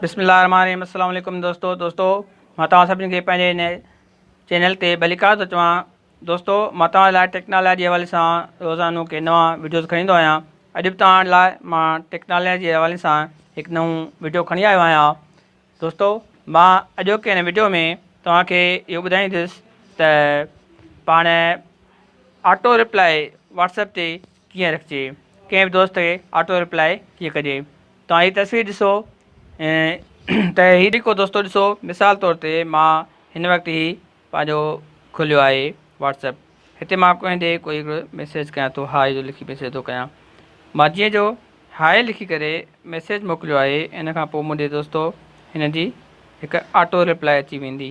بسم الله الرحمن الرحيم السلام عليڪم دوستو دوستو مان توهان سڀني کي پنهنجي هن چينل تي ڀليڪار ٿو چوان دوستو مان توهان لاء ٽيڪنالاجي جي حوالي سان روزانو ڪي نوان وڊيوز کڻي ايندو آهيان اڄ به توهان لاء مان ٽيڪنالاجي جي حوالي سان هڪ نئون وڊيو کڻي آيو آهيان دوستو مان اڄوڪي هن وڊيو ۾ توهان کي اهو ٻڌائيندس ته پاڻ آٽو رپلائي واتسپ تي ڪيئن رکجي؟ ڪنهن به دوست کي آٽو ريپلائي ڪيئن ڪجي؟ توهان هي تصوير ڏسو ته هي جيڪو دوستو ڏسو مثال طور تي مان هن وقت هي پنهنجو کوليو آهي واٽس اپ هتي مان ڪنهن ڏي ڪوئي هڪڙو ميسيج ڪيان ٿو هاء جو لکي ميسيج ٿو ڪيان مان جيئن جو هاء لکي ڪري ميسيج موڪليو آهي ان کان پوء منهنجي دوستو هن جي هڪ آٽو ريپلائي اچي ويندي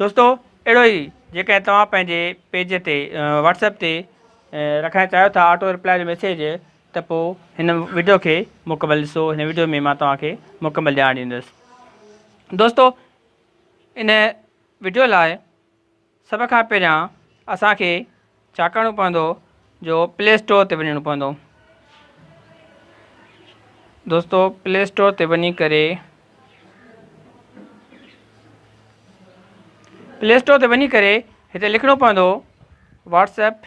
دوستو اهڙو ئي جيڪڏهن توهان پنهنجي پيج تي واٽسپ تي رکڻ چاهيو ٿا آٽو رپلائي جو ميسيج ته پوء هن ويڊيو کي مڪمل ڏسو هن ويڊيو ۾ مان توهان کي مڪمل ڄاڻ ڏيندس دوستو ان ويڊيو لاء سڀ کان پهريان اسان کي ڇا ڪرڻو پوندو جو پلي اسٽور تي وڃڻو پوندو دوستو پلي اسٽور تي وڃي ڪري پلي اسٽور تي وڃي ڪري هتي لکڻو پوندو واٽس ايپ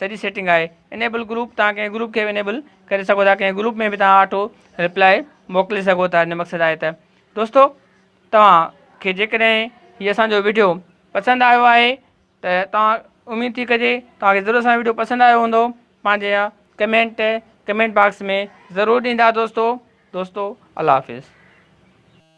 سڄي سيٽنگ آهي انيبل گروپ تهان ڪنهن گروپ کي به انيبل ڪري سگهو ٿا ڪنهن گروپ ۾ به تهان آٽو ريپلاء موڪلي سگهو ٿا ان مقصد آهي ته دوستو توهان کي جيڪڏهن هي اسان جو ويڊيو پسند آيو آهي ته توهان اميد ٿي ڪجي توهان کي ضرور اسان جو ويڊيو پسند آيو هوندو پنهنجي يا ڪمينٽ ڪمينٽ باڪس ۾ ضرور ڏيندا دوستو دوستو الله حافظ